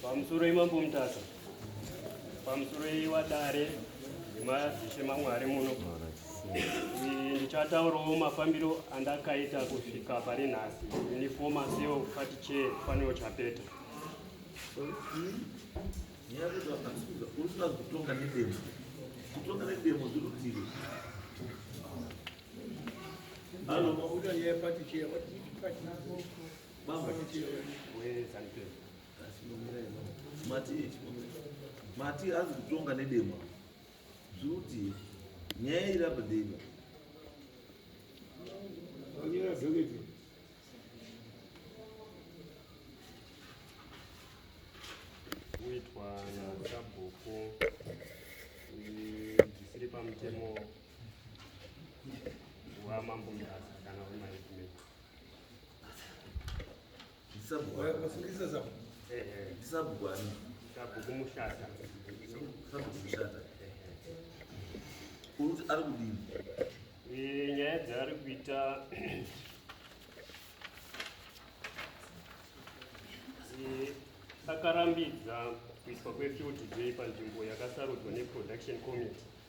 Pamusoro imambo Mutasa, pamusoro iwadare nemadzishe maMwari muno ndichataurawo mafambiro andakaita kusvika pari nhasi ini foma seo pati chee faniro chapeta kutonga nedemo kutonga nedemo zvirutivi Hello. Bamba kichi. Wewe zanke. Asi nomira ino. Mati ichi nomira. Mati azi kutonga nedema. Zvuti. Nyaya iri apa dema. Onyera zogeti. Kuitwa na sabhuku zvisiri pamutemo wamambo mudasa kana wemaitmeo ari kudini eh, nyaya dzaari kuita eh, akarambidza kuiswa kwefield day panzvimbo yakasarudzwa neproduction committee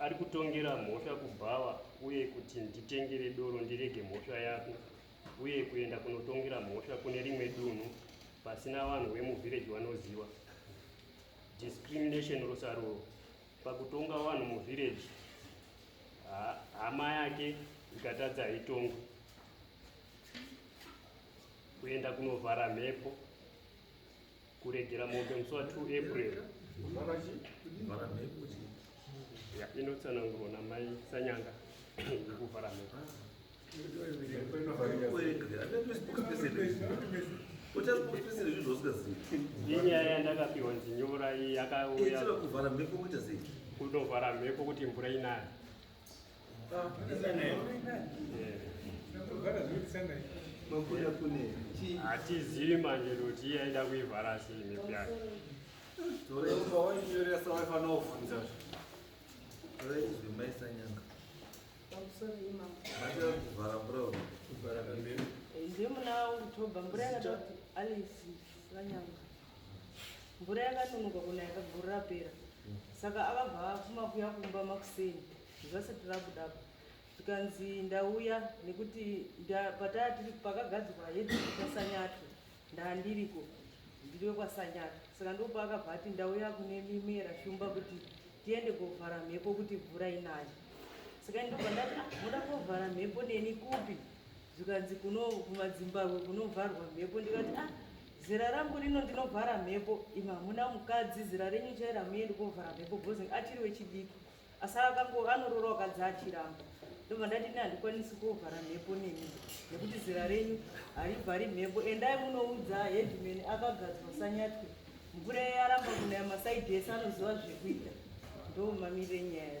Ari kutongera mhosva kubhawa uye kuti nditengere doro ndirege mhosva yako uye kuenda kunotongera mhosva kune rimwe dunhu pasina vanhu vemuvhireji vanoziva. Discrimination rusaruro pakutonga vanhu muvhireji hama yake ikatadza haitongwe. Kuenda kunovhara mhepo. kuregera mombe musi wa 2 april inotsanangurwa namai sanyanga yekuvhara mhepo inyaya yandakapiwa nzinyora iyi yakauya kunovhara mhepo kuti mvura inaya hatizivi manje kuti iye aida kuivhara sei mhepo yake ndiye muna oktober mvura yakati alice vanyanga mvura yakanonoka kuna yakagurira pera saka avabva afuma kuya kumba makuseni zvasati rabuda apa zvikanzi ndauya nekuti pataa tiri pakagadzirwa hedi kwasanyato ndaa ndiriko ndiri wekwasanyato saka ndopa akabva ati ndauya kune mimera shumba kuti tiende kovhara mhepo kuti mvura inayo saka ndobva ndati ah, moda kovhara mhepo neni kupi zvikanzi kuno kumadzimbabwe kunovharwa mhepo ndikati ah zera rangu rino ndinovhara mhepo imi hamuna mukadzi zera renyu chairo hamuendi kovhara mhepo bhozi achiri wechidiki asi akango anorora wakadzi achiramba ndobva ndati ini handikwanisi kovhara mhepo nemi nekuti zera renyu harivhari mhepo endai munoudza headman akagadzwa sanyatwe mvura yaye aramba kunaya masaidi ese anoziva zvekuita ndomamire nyaya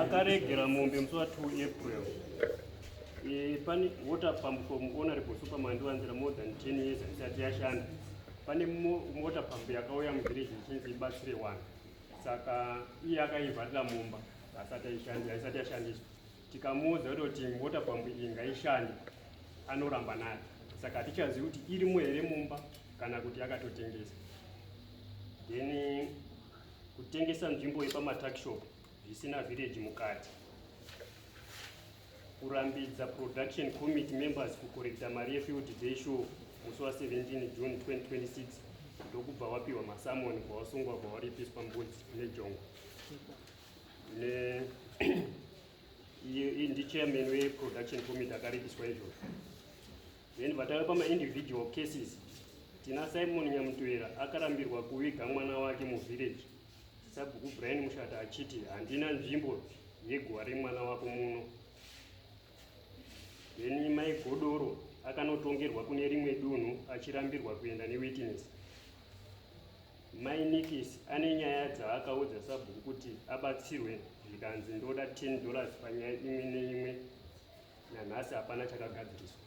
akaregera mombe musi wa 2 april eh, pane water pump from honorable superman ndiwanzira more than 10 years haisati yashanda pane mota pambi yakauya muvhireji ichinzi ibatsire wani saka iye akaivharira mumba haisati yashandiswa tikamuudza kuti mota pambi iyi ngaishande anoramba nayo saka hatichazivi kuti irimo here mumba kana kuti akatotengesa then kutengesa nzvimbo yepamatakshop zvisina vhireji mukati kurambidza production committee members kukorekta mari yefield day show musi wa 17 june 2026 ndokubva wapiwa masamoni kwawasungwa kwawaripiswa mbudzi nejongo ne iyi ndichairman weproduction committee akaripiswa izvozvo then vatave pamaindividual cases tina simon nyamutoera akarambirwa kuviga mwana wake muvillage Sabhuku Brian Mushata achiti handina nzvimbo yeguva remwana wako muno. Then Mai Godoro akanotongerwa kune rimwe dunhu achirambirwa kuenda newitness. Mai Nikis ane nyaya dzaakaudza sabhuku kuti abatsirwe zvikanzi ndoda 10 dollars panyaya imwe neimwe nanhasi hapana chakagadziriswa.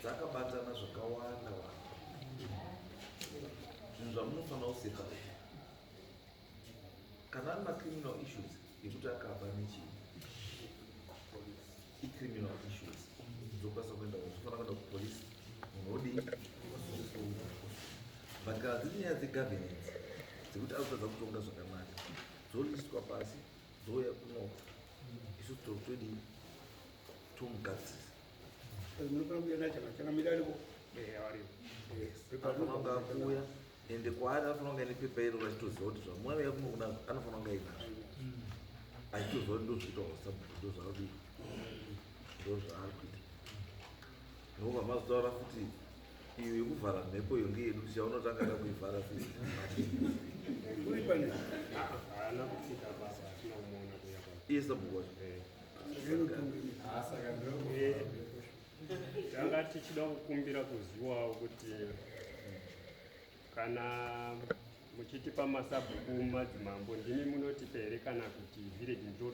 dzakabatana zvakawanda wanda zvinhu zvamunofanira kusepa kana ari macriminal issues ekuti akaba nechii icriminal issues dzokwanisa kuenda zvofanira kuenda kupolice munhu odii but kana dziri nyaya dzegovernance dzekuti azotadza kutonga zvakanaka dzoliswa pasi dzouya kunoka isu toitodii akuuya ende kwaari anofanira kunge ine pepa iro vachitoziva kuti zvamwari yakunokuda anofanira kunge inazvo achitoziva kuti ndozviita wasabhuku ndozvaakudi ndozvaari kuita noku vamazotaura futi iyo yekuvhara mhepo iyo ngeyedu tichaunotanga da kuivhara futi iye sabhuku wacho tanga tichida kukumbira kuziwawo kuti kana muchitipa masabhuku madzimambo ndimi munotipa here kana kuti village ndo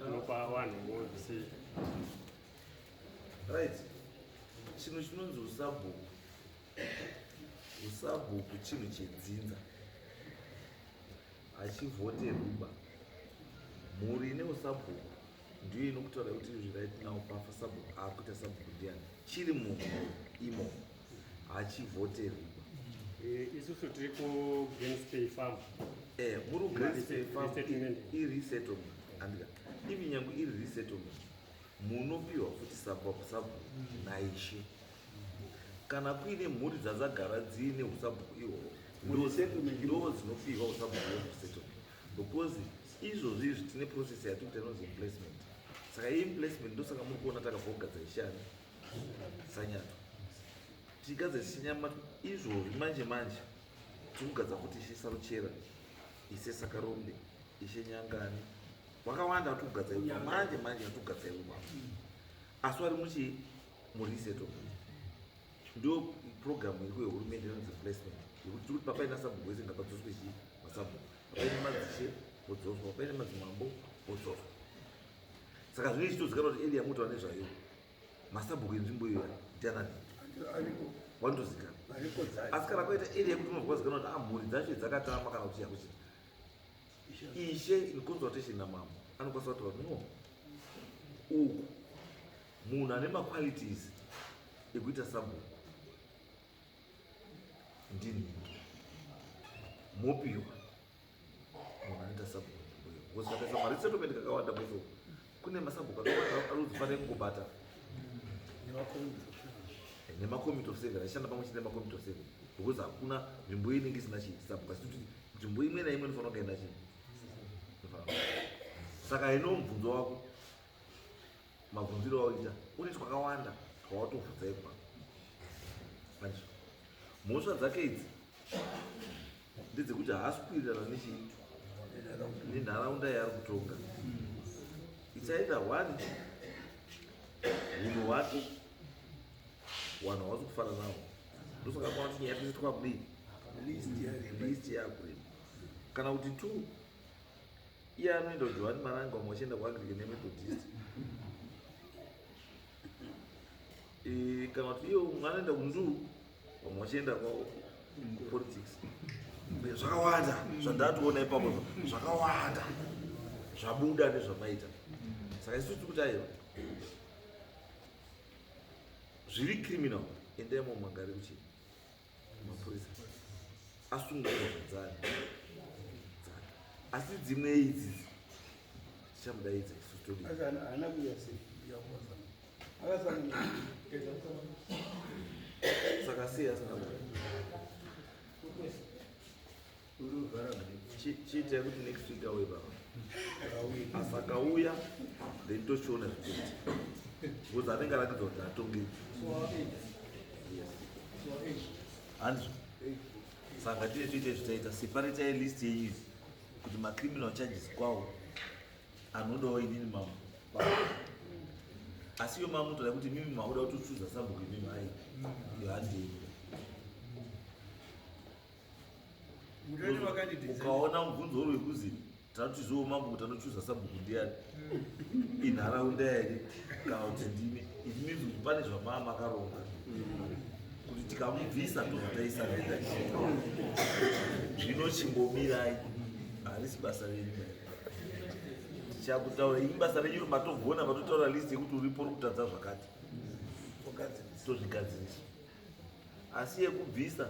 rinopa vanhu vose right chinhu chinonzi usabhuku usabhuku chinhu chedzinza hachivhoterwi ba mhuri ine usabhuku ndiyo inokutaura kuti izvi right now pafa sabhuku akuita sabhuku ndiani chiri munhu imo hachivhoterwi ba eh, isusu tiri kugreenspay farm eh, muri kugreenspay farm iresettlement andika ivi nyange iri resettlement munopiwa futi sabhuku sabhuku naishe mm. kana kuine mhuri dzadzagara dziine usabhuku ihwohwo ndo dzinopihwa usabhuku hwemusettlement because izvozvi izvi tine process yatiri kuita inonzi emplacement saka iyi emplacement ndosaka muri kuona takabva kugadza ishani sanyato tichigadza chichinyama izvozvi manje manje tiri kugadza kuti ishe saruchera ise sakarombe ishe nyangani vakawanda vatiri kugadza iva manje manje vatiri kugadza iva asi vari muchii muriseto ndo program iri kwehurumende inonzi replacement yekuti tiri kuti papaina sabhuku wese ngapadzoswe chii masabhuku papaine madzishe vodzoswa papaine madzimambo vodzoswa saka zvinenge chitozikanwa kuti elia moto ane zvayo masabhuku enzvimbo iyo ndianani wanotozikana asi kana kwaita elia kuti unonzwa zikana kuti amhuri ah, dzacho dzakatama kana kuti chakuchita ishe in consultation namambo anokwanisa kutaura no uku Munhu ane maqualities ekuita sabhuku ndinhingi mopiwa munhu anoita sabhuku because vakaisa mari setomende kakawanda kuzo kune masabhuku akawanda arudzi fanire kungobata nemacommitte of seven achishanda pamwe chete nemacommitte of seven because hakuna nzvimbo iyi inenge isina chii sabhuku asi kuti nzvimbo imwe naimwe inofanira kunge ina chii saka ino mubvunzo wako mabvunziro awaita une twakawanda twawatobvunza ipa manje mhosva dzake idzi ndedzekuti haasi kuwirirana nechi nenharaunda yaari kutonga ichaita one hunhu hwake wanhu hawasi kufana nawo ndosaka kwaati nyaya tese twakudii list yakurema kana kuti two iye anoenda kujohani maranga umwe achienda kuanglican nemethodist e, kana kuti iye umwe anoenda kundu vamwe vachienda kupolitics zvakawanda zvandatoona ipapo zvakawanda zvabuda nezvamaita saka isu tiri kuti aiwa zviri criminal endai momagari kuchii mapurisa asungwa zvadzari dzake asi dzimwe idzidzi tichamudaidza isu todii saka sei asina kuda chiitai kuti next week auye baba asakauya then tochiona zvikuti because anenge arakidza kuti atonge hanzvo saka tine toita zvitaita separatai list yenyu izi kuti macriminal charges kwawo anodawo inini mambo asi iyo mambo toda kuti mimi maoda kutochuza sabhuku imimi ai yohandei ukaona mubvunzo uri wekuzi tatiziwo mambo kuti anochuza sabhuku ndiyani hmm. inharaunda here kana kuti ndimi it means kuti pane zvamaa makaronga kuti tikamubvisa tozotaisa nenda zvino chimbomirai harisi basa renyu tichakutaura ini basa renyu romatogona vatotaura list yekuti uripo uri kutadza zvakati tozvigadzirisa asi yekubvisa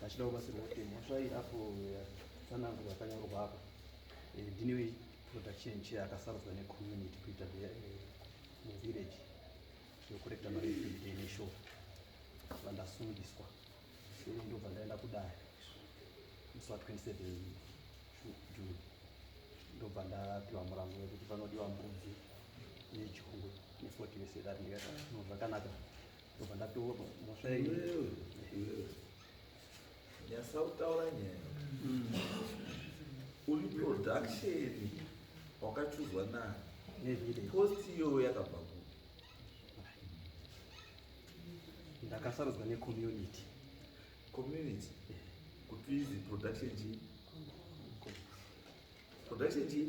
vachida kubatsirwa kuti mhosva iyi apo tsananguro yakanyorwa apa eh, ndinewe production chair akasarudzwa necommunity kuita eh, muvillage yokurekta marefuge neshow vandasundiswa ini ndobva ndaenda kudare musi wa 27 june ndobva ndapiwa murango wekuti panodiwa mbudzi nejongwe ne40 vesedari ndikati ah, zvakanaka yasautaura nyaya mm. uri production wakachuzwa nani post iyoyo yakabva ku ndakasarudzwa necommunity community kuti izi production chii production chii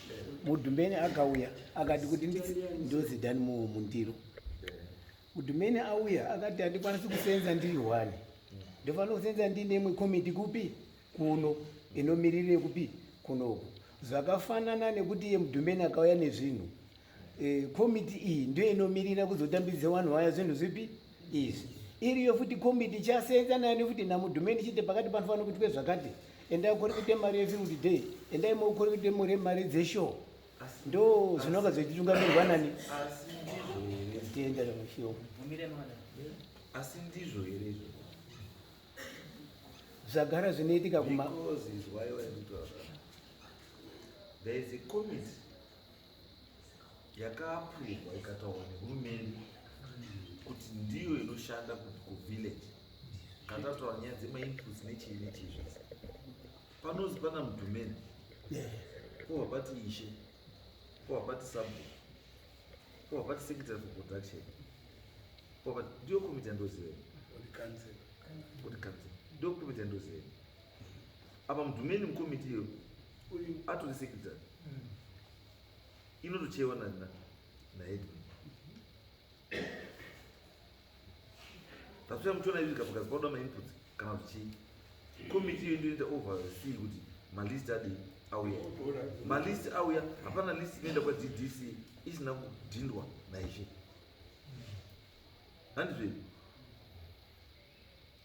mudhumbeni akauya akati kuti ndozi dani muwo mundiro mudhumbeni auya akati handikwanisi kusenza ndiri one ndofanira kusenza ndiine imwe komiti kupi kuno inomirire kupi kunoku zvakafanana nekuti iye mudhumbeni akauya nezvinhu eh, komiti iyi ndoinomirira kuzotambidzisa vanhu vaya zvinhu zvipi e, izvi iriyo futi kombi ndichaseenza nayo nefuti namudhume ndichiti pakati panofanira kuitwe zvakati endai korekete mari yefield day endai mokorekete mure mari dzeshow ndo zvinonga zvechitungamirwa nani asi ndizvo here izvo zvagara zvinoitika kuma There is a committee yakaapuruvwa ikataurwa nehurumende kuti ndiyo inoshanda kuvillage katataura nyaya dzemainputs nechii nechii zvese panozi pana mudhumeni pova pati ishe pova pati sabo pova pati secretary for production pova pati ndiyo komiti yandoziveni kuti kanzela ndiyo komiti yandoziveni apa mudhumeni mukomiti iyo uyu atori secretary mm. inotocheiwa nana naedwin tasuya muchiona izvi zvikapakazi pauda mainput kana kuti chii komiti iyo inoita over see kuti malist adii auya malist auya hapana list inoenda kwadc isina kudhindwa naizvi handizvei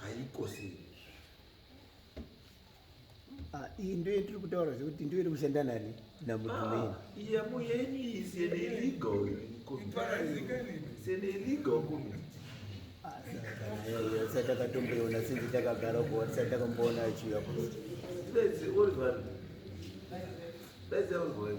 haiko sei ah, iyi ndo yetiri kutaura zvekuti ndo iri kushanda nani namudumeni iyamo ah, yenyu iyi seneligo seneligo kumi sati takatomboiona sinzi takagara kuwa tisati takamboona achiuya kuno That's the only way.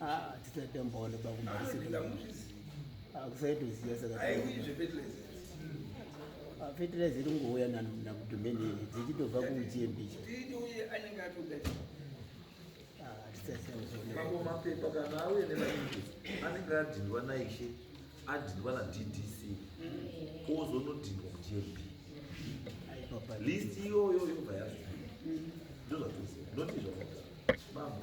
Ah, tisatambaona bakumaisira. Ah, kusaitoziva saka. Aiwizve fertilizer. Ah, fertilizer iri kungouya na na domain iyi dzichitobva ku GMB. Tidi uye anenge atoda. Ah, tisatambaona. Mambo mapepa kana auye ne maningi. Anenge adindwa na ishe. Adindwa na DDC. Ozonodindwa ku GMB. List iyoyo yobva yazi. Ndozvatoziva. Ndotizvo. Mambo.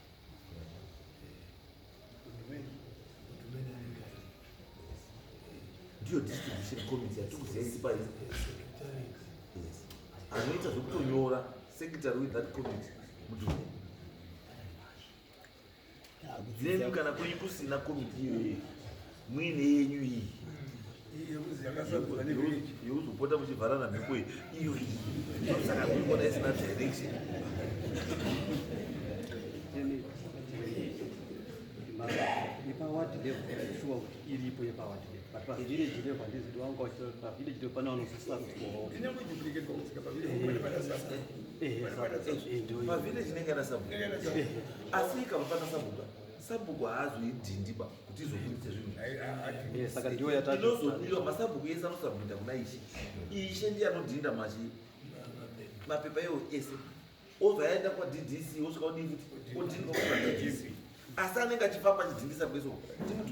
ndiyo distribution committee yatiri kuziva sipa anoita zvekutonyora secretary with that committee mudume nemi kana kwenyu kusina committee iyoyo mwine yenyu iyi yekuzopota muchivharana mhepo iyo saka kuona isina direction iripo yepawati but pavillage level handizi kuti wanga uchitaura kuti pavillage level pane vanosisira kuti pavillage inenge ana sabhuku asi ikava pana sabhuku sabhuku haazoidhindiba kuti izovhundise zvinhu eh, saka ndiyo yatainozobiwa masabhuku ese anosabhuda kuna ishe ishe ndiye anodhinda machi mapepa iwo ese obva yaenda kwaddc osvika odii futi odhinda kwaddc asi anenge achifamba achidhindisa kweso timuti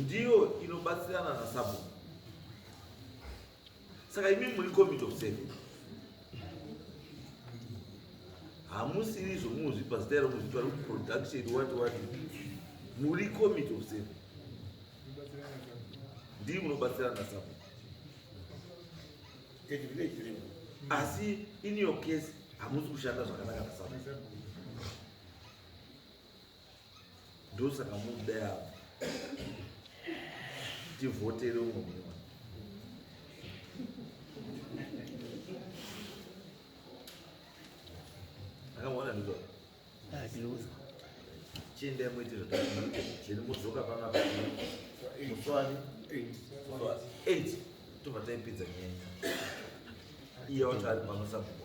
ndiyo inobatsirana nasabhuku saka imi muri committee of seven hamusiri zvomuzvipa zita iro muzvipa ri production wati wati muri committee of seven ndii munobatsirana nasabhuku asi in your case hamusi kushanda zvakanaka nasabhuku ndosaka muda yavo tivhotere umwe mune wani akaona ndizvo chiendai muite zvatairi mudzoka panapa muswani eight tobva taipedza nyaya iyo wati ari pano sabhuku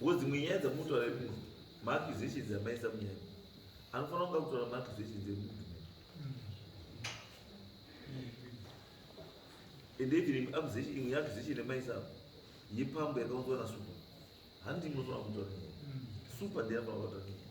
Ngo dzimwe nyaya dzamunotaura imuno maaccusations amaisa munyaya anofanira kunga kutaura maaccusations emuntu and even imwe accusation imwe accusation yamaisa yepambo yakaunzwa na super handi munofanira kutaura nyaya super ndiye anofanira kutaura nyaya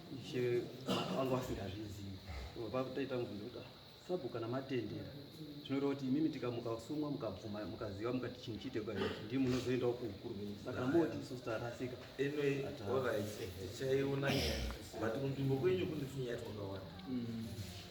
Ishe vanga vasingazvizivi vakutoita mubvunzo kuti sabu kana matendera zvinoreva kuti imimi tikamuka sumwa mukabvuma mukaziva mukati chinhu chiite kwaii ndii munozoendawo kuukuru venyu saka moti isu tarasika anyway orit tichaiona nyaya but kunzvimbo kwenyu kune nyaya twakawanda mm.